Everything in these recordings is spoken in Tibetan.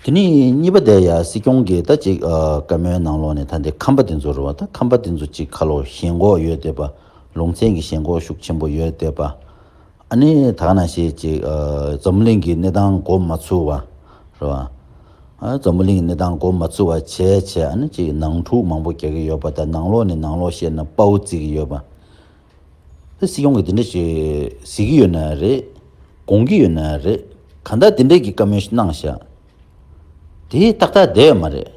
དེ་ནས་གཉིས་པ་དེ་ཡང་སྲིད་སྐྱོང་གིས་ད་ཅིག་བཀའ་མོལ་གནང་ལོག་ནས་ད་འདི་ཁམས་པ་དེ་ཚོ་རུ་བ་ད་ཁམས་པ་དེ་ཚོ་ཅིག་ཁ་ལོ་ཞེན་གོག་ཡོད་བསྡད་པ་ལུང་ཚན་གྱི་ཞེན་གོག་ཤུགས་ཆེན་པོ་ཡོད་བསྡད་པ་ཨ་ནི་དག་ན་ཞེས་ཅིག་འཛམ་བུ་གླིང་གི་གནས་སྟངས་གོ་མ་ཚུ་བ་རུ་བ། འཛམ་བུ་གླིང་གི་གནས་སྟངས་གོ་མ་ཚུ་བ་བྱས་བྱས་ཨ་ནི་ཅིག་ནང་འཁྲུག་མང་པོ་རྒྱག་གི་ཡོད་པ་ད་ནང་ལོག་ནས་ནང་ལོག་བཤད་ན་དཔའ་བོ་བརྩི་གི་ཡོད་པ། དེ་སྲིད་ཡོང་གི་དེ་འདྲ་ཞིག་གཟིགས་ཀྱི་ཡོད་ན་རེད། དགོངས་ཀྱི་ཡོད་ན་རེད། གང་ལྟར་དེ་འདྲས་ཀྱི་བཀའ་མོལ་ཞིག་གནང་བཞག་དེ་ཏག་ཏག་བསྡད་ཡོད་མ་རེད།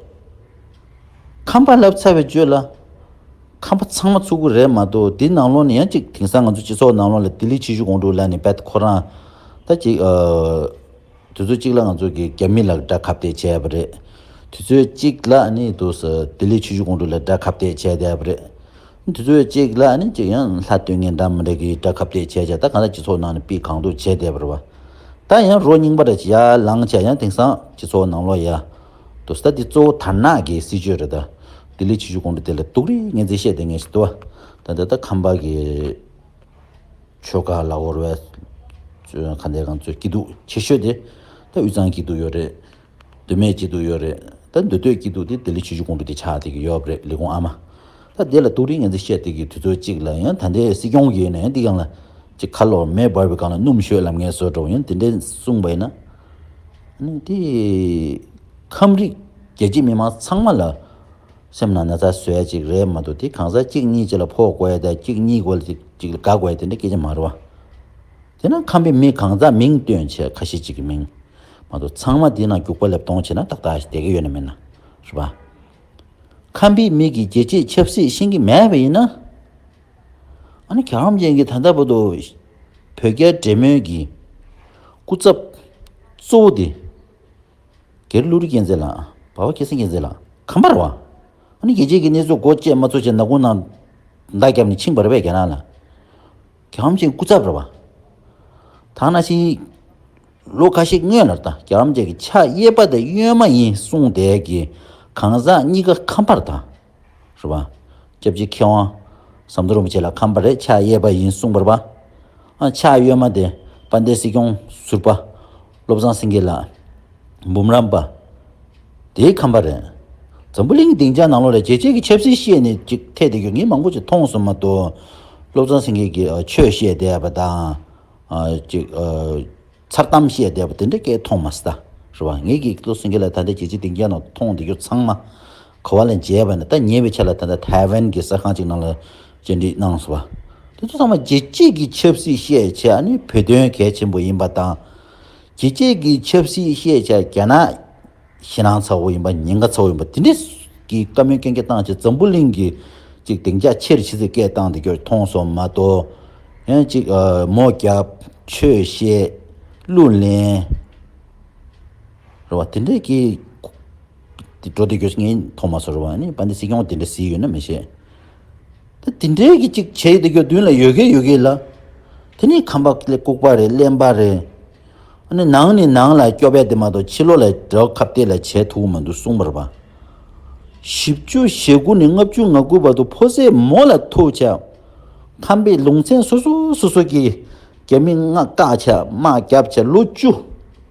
ཁམས་པ་ལབ་ཚར་བའི་བརྗོད་ལ། ཁམས་པ་ཚང་མ་ཚུགས་ཀྱི་རེད་མ་གཏོགས་དེ་ནང་ལོགས་ནས་ཡང་གཅིག་དེང་སང་ང་ཚོ་སྤྱི་ཚོགས་ནང་ལོགས་ལ་ལྡི་ལི་ཆི་ཞུ་གོང་དྲུག་ལ་ནས་བད་ཁོ་རང་ད་ཅིག་དུས་ཚོད་གཅིག་ལ་ང་ཚོ་གི་རྒྱ་མི་ལ་དགྲ་ཁ་བསྡད་བྱས་པ་རེད། དུས་ཚོད་གཅིག་ལ་ནི་དུས་སུ་ལྡི་ལི་ཆི་ཞུ་གོང་དྲུག་ལ་དགྲ་ཁ་བསྡད་བྱས་བསྡད་པ་རེད། འདི་ཚོའི་གཅིག་ལ་ནི་གཅིག་ཡང་ལྷ་སྟོད་ངན་འགྲམ་རེ་གི་དགྲ་ཁབ་གཏད་བྱས་བྱས་ད་གང་ལྟར་སྤྱི་ཚོགས་ནང་ནས་སྤི་གང་དུ་བྱས་བསྡད་པར་བ། ད་ཡང་རོ་རྙིང་པ་རེ་བྱས་ཡ་ལང་བྱས་ཡང་དེང་སང་སྤྱི་ཚོགས་ནང་ལོག་ཡ། དུ་ཟད་འདི་གཙོ་བོ་དར་ནག་གི་སྲིད་ཇུས་རེད་ད། ལྡི་ལི་ཆི་ཆུ་ཀོང་རེ་དེ་ལ་དུག་རེ་ངན་རྩིས་བཤད་བསྡད་ངེས་ཤིག་དུ་བ། ད་འདི་ལྟར་ཁམས་པ་གི་ཆོལ་ཁ་ལ་བོར་བའི། ཁ་འདས་གང་ཚོའི་སྐྱིད་སྡུག་ཆེ་ཤོས་དེ་ད་དབུས་གཙང་སྐྱིད་སྡུག་ཡོད་རེད། འདོད་མེད་སྐྱིད་སྡུག་ཡོད་རེད་ད་འདོད་འདོད་སྐྱིད་སྡུག་དེ་ལྡི་ལི་ཆུ་ཆུ་དགོང་དྲོ་དེ་ཆགས་བསྡད་ཀྱི་ཡོད་རེད་ལི་གུང་ཨ་མ། ད་འདི་ལ་ཏུག་རིས་ངན་ཚིག་བཤད་བསྡད་ཀྱི་དུས་ཚོད་གཅིག་ལ་ཡང་ད་ལྟའི་སྲིད་སྐྱོང་གིས་ནས་འདི་གང་ལ། ཅིག་ཁ་ལོ་མེ་འབར་བའི་སྒང་ལ་སྣུམ་ཞོད་ལམ་ངན་བཟོས་འགྲོ་ཡང་དེ་འདྲའི་གསུངས་པ་ཡིན་ན། ནི་དེ། ཁམས་རིགས་རྒྱལ་སྤྱི་མི་དམངས་ཚང་མ་ལ། སེམས་ནང་ན་ཚ་བཟོས་ཡ་ཅིག་རེད་མ་འདུག་དེ་གང་ཟག་གཅིག་གཉིས་ཅིག་ལ་ཕོག་དགོས་ཡ་དག་གཅིག་གཉིས་དགོས་ལ་ཅིག་ཅིག་ལ་དགའ་དགོས་ཡ་དེ་འདྲའི་སྐད་ཆ་མ་རེད་བ། དེས་ན་ཁམས་པའི་མི་གང་ཟག་མིང་སྟོན་བྱེད་ཁ་ཤས་ཅིག་གི་མིང། མ་གཏོགས་ཚང་མ་དེའི་ནང་རྒྱུག་པ་ལེབ་མཐོང་བྱེད་ན་ཏག་ཏག་ཞིག་བསྡད་ཀྱི་ཡོད་ནི་མིན་ན། རེད་པ། ཁམས་པའི་མི་གི་རྒྱལ་གཅེས་ཆབ་སྲིད་ཤེས་ཀྱི་མེད་པ་ཡིན་ན། ཨ་ནི་ག་རང་ཅན་གྱི་ད་ལྟ་བར་དུ་བོད་རྒྱ་འབྲེལ་མོལ་གྱི་སྐུ་ཚབ་གཙོ་བོ་དེ། སྒེར་ཀླུ་རི་རྒྱལ་མཚན་ལགས། བ་བ་ཁྱི་སེང་རྒྱལ་མཚན་ལགས་གམ་པར་བ། ཨ་ནི་རྒྱལ་གཅེས་ཀྱི་གནས་ཚུལ་མགོ་བཅད་མ་ཚོ་བཅད་ནག་ཀུན་ན་མདའ་བརྒྱབ་ནས་འཆིང་པར་རེད་པས་རྒྱ་ནག་ལ། གྱ་འམ་ཅན་སྐུ་ཚབ་ར་བ། དག་ན་ཤིང་ཡིག། ལོ་ཁ་ཤས་སྔོན་ལ་དང་གྱ་འམ་ཅན་གྱི་ཕྱག་གཡས་པ་དེ་གཡོན་མ་ཡིན་གསུངས་བསྡད་ཀྱི། གང་ཟག་གཉིས་ཀ་ཁམས་པར་དང། ར་བ། སྐྱབས་རྗེ་མཁས་དབང། ཟམ་གདོང་རིན་པོ་ཆེ་ལ་ཁམས་པར་རེད་ཕྱག་གཡས་པ་ཡིན་གསུངས་པར་བ། ཕྱག་གཡོན་མ་དེ་དཔལ་ལྡན་སྲིད་སྐྱོང་ཟུར་པ། བློ་བཟང་སེང་གེ་ལགས། འབུམ་རམས་པ། དེའི་ཁམས་པ་རེད། འཛམ་བུ་གླིང་གི་སྡིངས་ཆ་ནང་ལོགས་ལ་རྒྱལ་སྤྱིའི་གི་ཆབ་སྲིད་བཤད་ནི་ཅིག་ཐད་དེ་གི་ངས་མང་པོ་ཅིག་མཐོང་སོང་མ་གཏོགས། བློ་བཟང་སེང་གེ་གི་ཆོས་བཤད་བསྡད་པ་དང། ཅིག། མཚར་གཏམ་བཤད་བསྡད་པ་དེ་འདྲ་སྐད་མཐོང་མ་ཟད། རེད་བ། ངས་གི་བློ་སེང་གེ་ལགས་ད་ལྟ་རྒྱལ་སྤྱིའི་སྡིངས་ཆ་ནང་མཐོང་བསྡད་རྒྱུ་ཚང་མ། ཁོ་བ་ལས་མཇལ་བ་ནི་ད་ཉེ་བའི་ཆར་ལ་ད་ལྟ་ཐའེ་ཝན་གྱི་གསར་ཁང་ཅིག་ནང་ལ་བཅར་འདྲི་གནང་སོང་བ། དེ་ཚོ་ཚང་མ་རྒྱལ་སྤྱིས་ཀྱི་ཆབ་སྲིད་ཤེས་བྱ་ནི་བོད་དོན་གལ་ཆེན་པོ་ཡིན་པ་དང། རྒྱལ་སྤྱིས་ཀྱི་ཆབ་སྲིད་ཤེས་བྱ་རྒྱ་ནག་ཕྱི་ནང་ཚ་བོ་ཡིན་པ་ཉེན་ཁ་ཚ་བོ་ཡིན་པ་དེ་འདྲའི་གི་བཀའ་མོལ་གན་རྒྱ་བཏང་ཆེད་འཛམ་བུ་གླིང་གི་ཅིག་གདེང་འཇགས་ཆེར་བྱེད་ཚུལ་སྐད་བཏང་འདི་སྐྱོར་མཐོང་སོང་མ་གཏོགས། ཡང་ཅིག་མོ་རྒྱབ། ཆོས་བཤད། གླུ་ལེན། རེད་བ། དེ་འདྲའི་གི། འདི་འགྲོ་འདི་འགྱོ་ངས་ཐོག་མ་ཟུར་བ་ནི་བ་འདི་སྲིད་སྐྱོང་དེ་འདྲ་བཟི་ཡོད་ན་མི་ཤེས། ད་དེ་འདྲའི་གི་ཅིག་བྱས་ཡོད་འདི་འགྱོ་མདུན་ལ་ཡོད་གི་ཡོད་གི་ལ། དེ་ནི་ཁམས་པ་ལས་ལྐུགས་པ་རེད་གླེན་པ་རེད། ཨ་ནི་ནང་ནི་ནང་ལ་སྐྱོ་བས་དེ་མ་གཏོགས་ཕྱི་ལོག་ལ་དགྲ་བོ་ཁ་བརྡས་ལ་བྱས་ཐུག་གི་མ་འདུག་གསུངས་པར་བ། བཞི་བཅུ་ཞེ་དགུ་ནས་ལྔ་བཅུ་ང་དགུ་བར་དུ་ཕོ་ཟད་མོ་ལ་ཐུག་ཆ། ཁམས་པའི་ལུང་ཚན་སོ་སོ་སོ་སོ་གི་རྒྱ་མི་ང་བཀག་ཆ་དམག་རྒྱབ་ཆ་ལོ་བཅུ།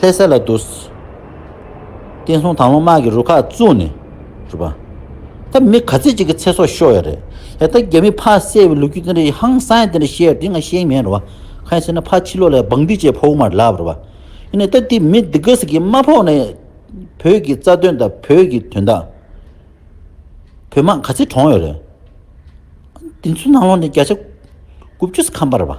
ལྷའི་ཟས་ལ་འདུ། བསྟན་སྲུང་དང་ལོ་དམག་གི་རུ་ཁག་བཙུགས་ནས་བསྒྲུབས་པ། ད་མི་ག་ཚོད་ཅིག་གི་ཚེ་སྲོག་ཤོར་ཡ་རེད། ཡ་ད་རྒྱ་མིས་ཕ་བསད་པའི་ལོ་རྒྱུས་དེ་འདྲ་ཧང་སང་དེ་འདྲ་བཤད་ཡ་དེ་ང་ཤེས་མེད་རེད་བ། གང་ཡིན་ཟེར་ན་ཕ་ཕྱི་ལོག་ལས་བང་འདི་བཅས་ཕོག་མར་ལབ་རེད་བ། ཡིན་ནའི་ད་དེ་མི་འདི་ག་ཟིག་གིས་མ་ཕོག་ནའི། བོད་ཀྱི་རྩ་དོན་དང་བོད་ཀྱི་དོན་དག། བོད་དམག་ག་ཚོད་གྲོངས་ཡོད་རེད། འདི་ཚོའི་ནང་ལོག་ནས་བརྒྱ་ཆ་དགུ་བཅུ་ཟིག་ཁམས་པ་རེད་བ།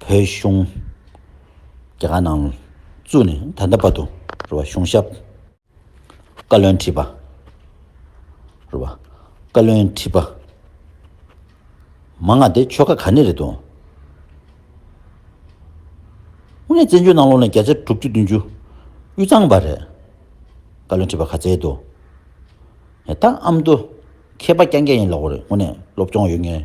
བོད་གཞུང། རྒྱ་གར་ནང་བཙུགས་ནས་ད་ལྟ་བར་དུ་རེད་བ་གཞུང་ཞབས། བཀའ་བློན་ཁྲི་པ། རེད་བ། བཀའ་བློན་ཁྲི་པ། མ་ང་དེ་ཆོལ་ཁ་ག་ནས་རེད་དོ། དངོས་གནས་བཙན་བྱོལ་ནང་ལོ་ན་བརྒྱ་ཆ་དྲུག་ཅུ་བདུན་ཅུ་དབུས་གཙང་པ་རེད། བཀའ་བློན་ཁྲི་པ་ག་ཚད་རེད་དོ། ད་ཨམ་དུ་མཁས་པ་རྐྱང་རྐྱང་ཡིན་ལོག་རེད་དངོས་གནས་སློབ་སྐྱོང་ཡོད་ངེས།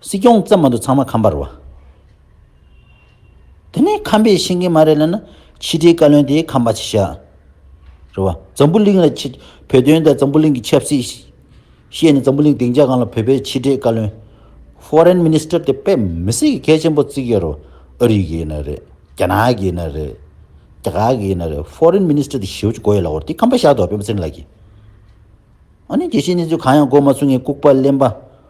སྲིད་སྐྱོང་བཙན་མ་འདུག་ཚང་མ་ཁམས་པར་བ། དེ་ནས་ཁམས་པས་ཤེས་མཁན་མ་རེད་ལབ་ན་ཕྱི་དྲིལ་བཀའ་བློན་དེ་ཁམས་པ་ཆེ་ཤག་རེད་བ། འཛམ་བུ་གླིང་ལ་བོད་དོན་དང་འཛམ་བུ་གླིང་གི་ཆབ་སྲིད་བཤད་ནས་འཛམ་བུ་གླིང་སྡིངས་ཆ་གང་ལ་བོད་པའི་ཕྱི་དྲིལ་བཀའ་བློན། Foreign Minister། དེ་དཔེ་མི་སྲིད་གི་གལ་ཆེན་པོ་བརྩིགས་ཡོད་རེད་བ། ཨ་རི་གི་ཡིན་ན་རེད། རྒྱ་ནག་གི་ཡིན་ན་རེད། རྒྱ་གར་གི་ཡིན་ན་རེད Foreign Minister དེ་ཞེའུ་ཅུ་གོ་ཡོད་ལ་འོར་དེ་ཁམས་པ་ཤག་འདུག་བ་དཔེ་མི་སྲིད་ལགས་ཀྱི། ཨ་ནི་དགེ་བཤེས་གནས་ཚུལ་གང་ཡང་གོ་མ་ཚུགས་ངས་ལྐུགས་པ་གླེན་པ།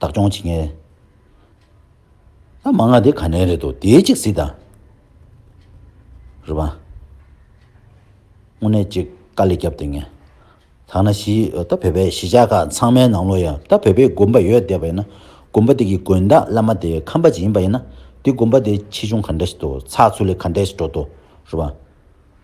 བདག་སྐྱོང་བྱེད་མཁན། ལ་མ་ང་དེ་ག་ནས་རེད་དོ་དེའི་གཅིག་གཟིགས་དང། རེད་པ། དངོས་གནས་གཅིག་དཀའ་ལས་རྒྱབ་སྡད་མཁན། ཐ་ན་གཞི་ད་བོད་པའི་གཞིས་ཆགས་ཁག་ཚང་མའི་ནང་ལོ་ཡ་ད་བོད་པའི་དགོན་པ་ཡོད་སྡད་པ་ཡིན་ན་དགོན་པ་དེ་གི་དགོན་བདག་བླ་མ་དེ་ཁམས་པ་ཅིག་ཡིན་པ་ཡིན་ན་དེ་དགོན་པ་དེ་ཆེ་ཆུང་ག་འདྲ་ཞིག་དོ་ཚགས་ཚུད་ལས་ག་འདྲ་ཞིག་འགྲོ་དོ་རེད་པ།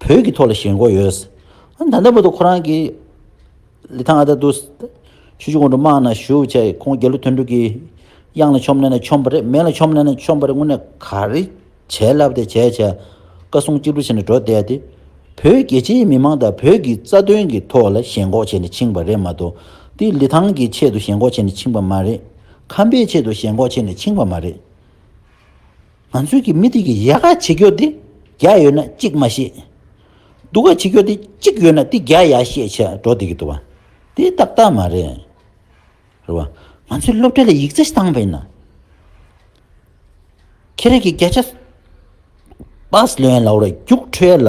བོད་ཀྱི་ཐོག་ལ་ཞེན་ཁོག་ཡོད། ད་ལྟ་བར་དུ་ཁོ་རང་གིས། ལི་ཐང་ཨ་ད་དུ། ཆུ་ཆུ་གོང་དུ་དམག་ནང་ཞུགས་བྱས་ཁོང་རྒྱལ་གླུ་ཐོན་དྲུག་གིས། གཡང་ལ་ཆོམ་ནད་ནས་ཆོམ་པ་རེད་མེ་ལ་ཆོམ་ནད་ནས་ཆོམ་པ་རེད་དངོས་གནས་ག་རེ་བྱས་ལབ་དེ་བྱས་བྱས། བཀའ་གསུང་གཅིག་བསྒྲུབ་བྱས་ནས་འགྲོ་བསྡད་དེ། བོད་རྒྱལ་སྤྱིའི་མི་མང་དང་བོད་ཀྱི་རྩ་དོན་གྱི་ཐོག་ལ་ཞེན་ཁོག་བྱས་ནས་ཕྱིན་པ་རེད་མ་གཏོགས། དེ་ལི་ཐང་གི་ཆེད་དུ་ཞེན་ཁོག་བྱས་ནས་ཕྱིན་པ་མ་རེད། ཁམས་པའི་ཆེད་དུ་ཞེན་ཁོག་བྱས་ནས་ཕྱིན་པ་མ་རེད། ང་ཚོས་ཀྱི་མི་དེ་གི་ཡལ་ག་ཇེ་སྐྱོ་སྟེ་བརྒྱ་ཡོད་ན་གཅིག་མ་ཤེས། སྡུག་ག་ཇེ་སྐྱོ་སྟེ་གཅིག་ཡོད་ན་དེ་བརྒྱ་ཡ་ཤེས་ཆེ་འགྲོ་བསྡད་ཀྱི་འདུག་བ་དེ་ཏག་ཏག་མ་རེད། རེད་བ། ང་ཚོས་སློབ་གྲྭ་ལ་ཡིག་རྩ་བཏང་བས་ན། ཁྱེད་རང་གི་བརྒྱ་ཆ། པཱས་ལོན་ལ་བོར་བ་རྒྱུགས་འཕྲོད་ལ།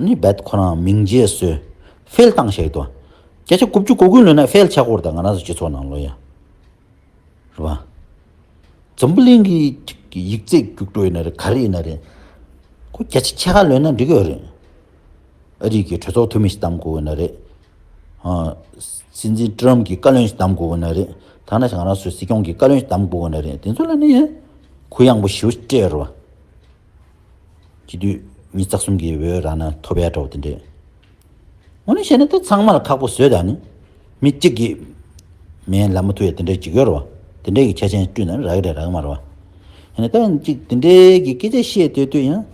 ནི་བད་ཁོ་རང་མིང་རྗེས་གསོལ། ཧྥེལ་ཏང་ཞེས་དོ། བརྒྱ་ཆ་དགུ་བཅུ་གོ་དགུའི་ལོན་ནས་ཧྥེལ་ཆག་སྒོར་དང་ང་རང་ཚོའི་སྤྱི་ཚོགས་ནང་ལོ་ཡ། རེད་པ། འཛམ་བུ་གླིང་གི་ཡིག་རྩིས་རྒྱུགས་སྤྲོད་ཡིན་ན་རེད་ག་རེ་ཡིན་ན་རེད། ཁོ་བརྒྱ་ཆ་ཕྱེད་ཀ་ལོན་ན་འགྲིག་གི་ཡོད་རེད། ཨ་རིག་གི་གྲོས་ཚོགས་འཐུས་མི་ཞིག་གདམ་དགོས་ཡོད་ན་རེད། སྲིད་འཛིན་ཀྲི་རམ་གྱི་བཀའ་བློན་ཞིག་གདམ་དགོས་ཡོད་ན་རེད། ཐ་ན་ང་རང་ཚོའི་སྲིད་སྐྱོང་གི་བཀའ་བློན་ཞིག་གདམ་དགོས་ཡོད་ན་རེད་དེ་ཚོ་ལོན་ན་ཡིན། གུ་ཡངས་པོ་ཞུ་སྤྲད་རེད་བ། གྱི་དུས་ཉིད་རྩ་གསུམ་གྱི་འོད་རང་ན་ཐོབ་ཡལ་འགྲོ་བ་དེ་འདྲའི། ངོ་ནས་བཤད་ན་དེ་ཚང་མར་ཁག་པོ་བཟོས་དང་ནི། མི་གཅིག་གིས་མའི་ལད་མོ་ཐུ་ཡལ་དེ་འདྲའི་འཇིགས་ཡོར་བ། དེ་འདྲའི་གི་ཁྱད་ཆེན་བསྐྲུན་ན་རག་རེད་རག་མ་རེད་བ། ཡིན་ན་ད་ཡིན་གཅིག་དེ་འདྲའི་གི་སྐད་ཆ་བཤད་འདོད་དུས་ཡང།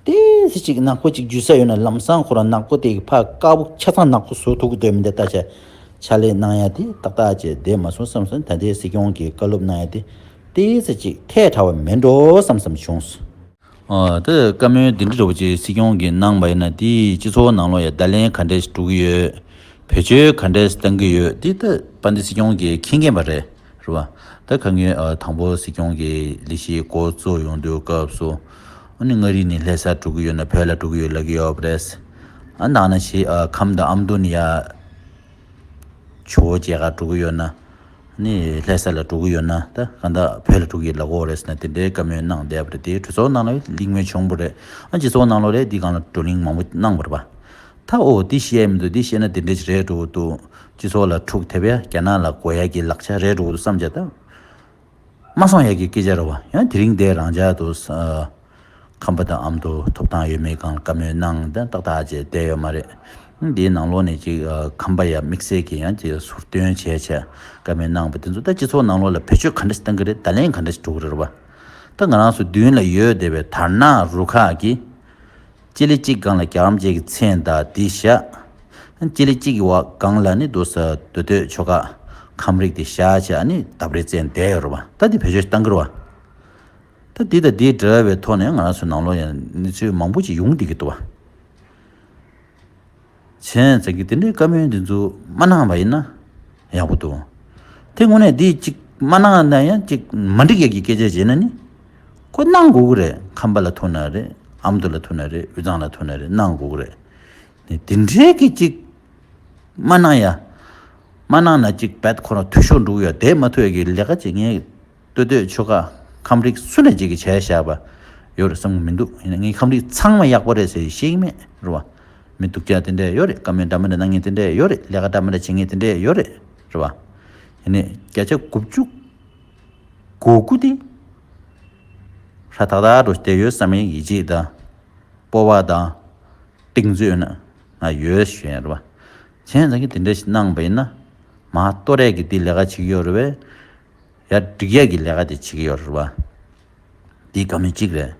དེ་སྲིད་ཅིག་ནག་པོ་གཅིག་འཇུས་ས་ཡོད་ན་ལམ་སང་ཁོ་རང་ནག་པོ་དེ་གི་ཕ་དཀར་པོ་ཆ་ཚང་ནག་པོ་བཟོ་ཐུབ་གི་འདོད་མི་འདོད་ལྟ་བྱ། ཕྱག་ལས་གནང་ཡ་དེ་ཏག་ཏག་བྱས་བསྡད་མ་སོང་བསམ་སོང་ད་ལྟའི་སྲིད་སྐྱོང་གི་བཀའ་སློབ་གནང་ཡ་དེ་ལྟས་ཚེ་གཅིག་ཐལ་དྲགས་པ་མིན་འགྲོ་བསམ་བསམ་བྱུང། ད་བཀའ་མོལ་འདི་འདྲ་རེ་བོ་ཅིག་སྲིད་སྐྱོང་གིས་གནང་བ་ཡིན་ན་དེས་སྤྱི་ཚོགས་ནང་ལོ་ཡ་བརྡ་ལན་ག་འདྲས་འགྲོ་གི་ཡོད། བེད་སྤྱོད་ག་འདྲས་བཏང་གི་ཡོད་འདི་ད་པ་འདི་སྲིད་སྐྱོང་གིས་མཁྱེན་མཁན་པ་རེད་རེད་བ། ད་ག་ངོས་དང་པོ་སྲིད་སྐྱོང་གི་ལས་གཞི་འགོ་གཙོ་ཡོང་དུས་སྐབས་སུ། ཨོ་ནི་མངའ་རིས་ནས་ལྷས་སར་འགྲོ་གི་ཡོད་ན་བོད་ལ་འགྲོ་གི་ཡོད་ལབ་གི་ཡོད་པ་རེད། ཨ་ནག་ན་ཞིག་ཁམས་དང་ཨ་མདོ་ནས་ཡ། ཇོ་བོ་རྒྱལ་ཁར་འགྲོ་གི་ཡོད་ན། ནས་ལྷའི་ས་ལ་འགྲོ་གི་ཡོད་ན་ད་གང་དག་བོད་ལ་འགྲོ་གི་ཡོད་ལ་འོ་རེད་ཟེར་ན་དེ་འདྲའི་བཀའ་མོལ་གནང་བསྡད་པ་རེད་དེ་གྲོས་ཚོགས་ནང་ལ་གླིང་མོལ་བྱུང་པོ་རེད་ཨང་ཅི་ཚོགས་ནང་ལོ་རེ་འདི་གང་ལ་བགྲོ་གླིང་མང་པོ་གནང་བར་བ་ད་འོ་འདི་བཤད་ཡ་མི་འདུག་འདི་བཤད་ན་དེ་འདྲའི་ཅི་རེད་འགྲོ་གི་འདུག་སྤྱི་ཚོགས་ལ་འཁྲུག་ཐེབས་ཡ་རྒྱ་ནག་ལ་གོ་ཡ་གི་ལག་ཆ་རེད་འགྲོ་གི་འདུག་བསམ་བྱ་ད་མ་སོང་ཡ་གི་སྐད་ཆ་རེད་བ་ཡང་དེ་རིང་འདས་རང་འཇགས་འདུག། ཁམས་པ་དང་ཨམ་དུ་ཐོབ་ཐང་ཡོད་མེད་གང་ལ་བཀའ་མོལ་གནང་དེ་ཏག་ཏག་བྱས་བསྡད་ཡོད་མ་རེད། འདིའི་ནང་ལོགས་ནས་ཅིག་ཁམས་པ་ཡ་དམིགས་བསལ་གྱི་ཡང་ཅིག་ཟུར་བཏོན་བྱས་བྱས་བཀའ་མོལ་གནང་བ་དེ་ཚོ་ད་སྤྱི་ཚོགས་ནང་ལོགས་ལ་བེད་སྤྱོད་ག་འདྲ་ཞིག་གཏང་གི་རེད་བརྡ་ལན་ག་འདྲ་ཞིག་སྒྲོག་གི་རེད་བ། ད་ང་རང་སོ་བདུན་ལ་ཡོད་བསྡད་པའི་དར་ནག་རུ་ཁག་གིས། སྤྱི་ལེ་གཅིག་སྒང་ལ་རྒྱ་རམ་བཅས་ཀྱི་མཚན་བརྡ་འདི་བཞག། སྤྱི་ལེ་གཅིག་གི་འོག་སྒང་ལ་ནི་འདུག་ས་འདུག་སྡོད་ཆོ་ག་ཁམས་རིགས་དེ་བཞག་བྱས་ཨ་ནི་ལྡབ་རེ་བཙལ་བསྡད་ཡོད་རེད་བ། ད་འདི་བེད་སྤྱོད་ཞིག་གཏང་གི་རེད་བ། ད་འདི་དང་འདི་འདྲ་བའི་ཐོག་ནས་ང་རང་ཚོའི་ནང་ལོགས་ཡང་གནས་ཚུལ་མང་པོ་ཅིག་ཡོང་སྡད་ཀྱི་འདུག་བ། བྱས་ཙང་གི་འདི་འདྲའི་བཀའ་མོལ་འདི་ཚོ་མ་གནང་བ་ཡིན་ན་ཡག་པོ་འདུག་དེ་སྔོན་ནས་འདི་ཅིག་མ་གནང་ན་ཡང་ཅིག་མ་འགྲིག་ཡ་གི་སྐད་ཆ་བྱས་ན་ནི་ཁོ་གནང་དགོས་ཀྱི་རེད་ཁམས་པ་ལ་ཐུག་ན་རེད་ཨ་མདོ་ལ་ཐུག་ན་རེད་དབུས་གཙང་ལ་ཐུག་ན་རེད་གནང་དགོས་ཀྱི་རེད་ནི་འདི་འདྲའི་གི་ཅིག་མ་གནང་ཡ། མ་གནང་ན་ཅིག་བད་ཁོ་རང་འཐུས་ཤོར་འགྲོ་གི་ཡ་དེ་མ་ཐུག་ཡ་གི་ལས་ཀ་བྱེད་མཁན། ལྟོས་ལྟོས་ཆོལ་ཁ་ཁམས་རིགས་སུ་ལས་བྱེད་ཀྱི་བྱས་བཞག་པ་ཡོད་རེད་བསམ་གྱི་མི་འདུག་ཡིན་ན་ངའི་ཁམས་རིགས་ཚང་མ་ཡག་པོ་རེད་ཟེར་ཤེས་ཀྱི་མེད་རེད་བ། མི་སྡུག་སྐྱག་དེ་འདྲས་ཡོད་རེད་བཀའ་མོལ་འདྲ་མི་འདྲ་གནང་ངེས་དེ་འདྲས་ཡོད་རེད་ལས་ཀ་འདྲ་མི་འདྲ་བྱེད་ངེས་དེ་འདྲས་ཡོད་རེད་རེད་བ། ཡིན་ནས་བརྒྱ་ཆ་དགུ་བཅུ་གོ་དགུ་དེ་ཧྲ་ཐག་ཐག་འགྲོ་བསྡད་ཡོད་བསམ་ཡིན་ཡིད་ཆེས་དང་སྤོ་བ་དང་གཏིང་རྩོད་ཡོད་ན་ང་ཡོད་ཤོད་རེད་བ། གཞན་ཡང་ཚང་གི་དེ་འདྲས་ཞིག་གནང་བ་ཡིན་ན་མ་གཏོགས་རས་ཀྱི་དེ་ལས་ཀ་བྱེད་ཀྱི་ཡོད་རེད་བས། ཡར་འགྲིག་ཡས་ཀྱི་ལས་ཀ་དེ་བྱེད་ཀྱི་ཡོད་རེད་བ། འདི་དགའ་མོ་གཅིག་རེད།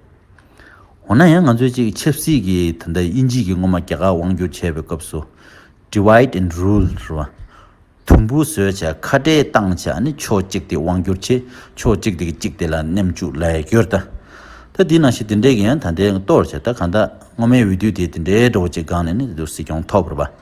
འོ་ན་ཡང་ང་ཚོས་ཅིག་ཆབ་སྲིད་ཀྱི་ད་ལྟ་དབྱིན་ཇིས་ཀྱི་སྔོན་མ་རྒྱ་གར་དབང་བསྒྱུར་བྱས་པའི་སྐབས་སུ། Divide and Rule། རེད་བ། དུམ་བུ་བཟོས་བྱས་ཁ་བྲལ་བཏང་བྱས་ཨ་ནི་ཕྱོགས་གཅིག་དེ་དབང་བསྒྱུར་བྱས་ཕྱོགས་གཅིག་དེ་གི་གཅིག་དེ་ལ་མནན་བཅུག་ལས་ཀྱོར་ད། ད་འདི་ནང་བཞིན་དེ་འདྲས་ཀྱི་ཡང་ད་འདྲས་གཏོར་བྱས་ད་གང་ད་སྔོན་མའི་འོས་བསྡུ་དེ་དེ་འདྲས་འགྲོ་བ་ཅིག་སྒང་ནས་ནི་དེ་དུ་སྲིད་སྐྱོང་ཐོབ་རེད་བ།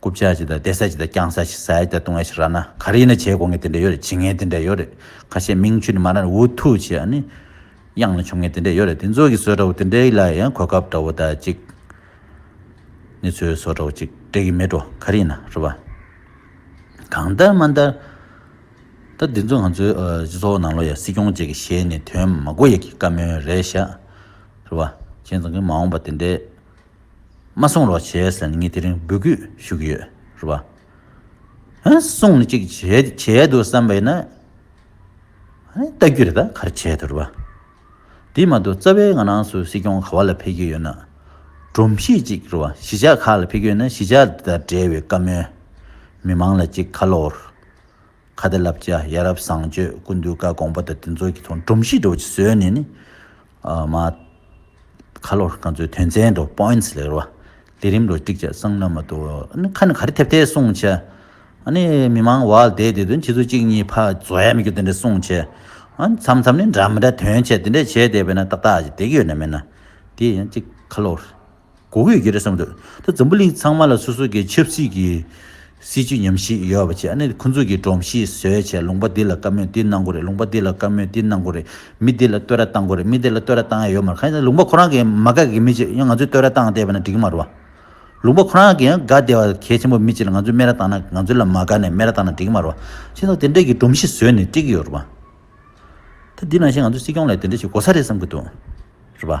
རྐུབ་ཆག་ཅིག་དང་བལྟས་ས་ཅིག་དང་བརྐྱངས་ས་ཅིག་ཟས་ཀྱང་བཏུང་བས་ཤི་ར་ན་ག་རེ་ཡིན་ན་བྱས་གོ་ངེས་དེ་འདྲས་ཡོད་རེད་བྱེད་ངེས་དེ་འདྲས་ཡོད་རེད་ཁ་ཤས་མིང་ཆུ་ནི་མ་ནར་འུ་ཐུག་བྱས་ཨ་ནི། དབྱངས་ནི་ཆོམ་ངེས་དེ་འདྲས་ཡོད་རེད་དེ་ཚོ་གི་ཟོལ་འདྲ་བོ་དེ་འདྲས་ལ་ཡང་གོ་སྐབས་འདྲ་བོ་ད་ཅིག་ནི་ཚོའི་ཟོལ་འདྲ་བོ་ཅིག་འགྲིག་གི་མེད་འགྲོ་ག་རེ་ཡིན་ན་རེད་བ། གང་ལྟར་མ་ལྟར། ད་འདི་ཚོ་ང་ཚོའི་སྤྱི་ཚོགས་ནང་ལོ་ཡ་སྲིད་སྐྱོང་བཅས་ཀྱི་ཞལ་ནས་དོན་མ་གོ་ཡ་གི་བཀའ་མོལ་རེད་བཞག་རེད་བ། བྱས་ཙང་གི་མ་འོངས་པ་དེ་འདྲས་མ་གསུངས་རོགས་བྱས་ཟེར་ནས་ངས་དེ་རིང་འབོད་སྐུལ་ཞུ་གི་ཡོད་རེད་བ། ཧ་གསུངས་ནས་ཅིག་བྱས་འདུག་བསམ་པ་ཡིན་ན། བལྟ་རྒྱུ་རེད་ད་ག་རེ་བྱས་འདུག་རེད་བ། དེ་མ་གཏོགས་རྩ་བའི་ང་རང་ཚོའི་སྲིད་སྐྱོང་ག་བ་ལ་ཕེབས་ཀྱི་ཡོད་ན། སྒྲོམ་གཞི་ཅིག་རེད་བ་གཞིས་ཆགས་ཁག་ལ་ཕེབས་ཀྱི་ཡོད་ན་གཞིས་ཆགས་དེ་དང་འབྲེལ་བའི་བཀའ་མོལ། མི་མང་ལ་ཅིག་ཁ་ལོ། ཁ་བརྡ་ལབ་བྱ་ཡ་རབ་བཟང་སྤྱོད་སྐུ་མདུན་བཀའ་དགོངས་པ་དང་དེ་ཚོ་གི་ཐོག་འབྲོམ་གཞིས་འགྲོ་བྱེད་བཟོས་ནས་ནི། མ། ཁ་ལོ་རྐང་ཚོའི་དོན་ཚན་དུ points ལེགས་རོ། ལས་རིམ་རོ་ཀྲིག་བྱ་གསང་ན་མ་ཏོ། ནི་ཁ་ནི་ག་རེ་ཐེབས་ཐེབས་གསུང་བྱ། ནི་མི་མང་བ་ལ་དེ་དེ་དོན་ཁྱེད་ཚོ་གཅིག་གཉིས་ཕ་བཟོ་ཡ་མི་དགོས་དེ་འདྲ་གསུང་བྱ། ཨ་མཚམས་མཚམས་ནི་འདྲ་མི་འདྲ་དོན་བྱ་དེ་འདྲ་བྱས་བསྡད་པས་ན་ཏག་ཏག་ཅིག་དེ་གི་ཡོད་ན་མེད་ན། དེ་ཡང་ཅིག་ཁ་ལོ། གོ་དགོས་ཀྱི་རེད་བསམ་འདུག་ད་འཛམ་བུ་གླིང་ཚང་མ་ལ་སོ་སོ་གི་ཆབ་སྲིད་ཀྱི་སྲིད་ཇུས་ཉམས་ཞིག་ཡོད་པ་ཆེ་ནས་ཁོ་ཚོ་གི་སྒྲོམ་གཞི་བཟོས་ཆེ་ལུང་པ་འདི་ལ་བཀའ་མོས་འདི་གནང་དགོས་རེད་ལུང་པ་འདི་ལ་བཀའ་མོས་འདི་གནང་དགོས་རེད་མི་འདི་ལ་བསྟོད་ར་བཏང་དགོས་རེད་མི་འདི་ལ་བསྟོད་ར་བཏང་ཡ་ཡོད་མ་རེད་ཁ་ཡང་ལུང་པ་ཁོ་རང་གི་མ་དགའ་གི་མི་ཅིག་ཡང་ང་ཚོས་བསྟོད་ར་བཏང་བསྡད་པ་ན་འགྲིག་གི་མ་རེད་བ། ལུང་པ་ཁོ་རང་གི་ཡང་དགའ་བསྡད་བ་གལ་ཆེན་པོ་མི་ཅིག་ལ་ང་ཚོས་སྨད་ར་བཏང་ན་ང་ཚོ་ལ་མ་དགའ་ནས་སྨད་ར་བཏང་ན་འགྲིག་གི་མ་རེད་བ། ཁྱེད་ཚོ་དེ་འདྲ་གི་སྒྲོམ་གཞི་བཟོས་ནས་བཀྲིག་གི་ཡོད་རེད་བ། ད་འདི་ནང་བཞིན་ང་ཚོ་སྲིད་སྐྱོང་ལ་དེ་འདྲ་ཞིག་གོ་ས་རེད་བསམ་གི་འདུག་རེད་བ།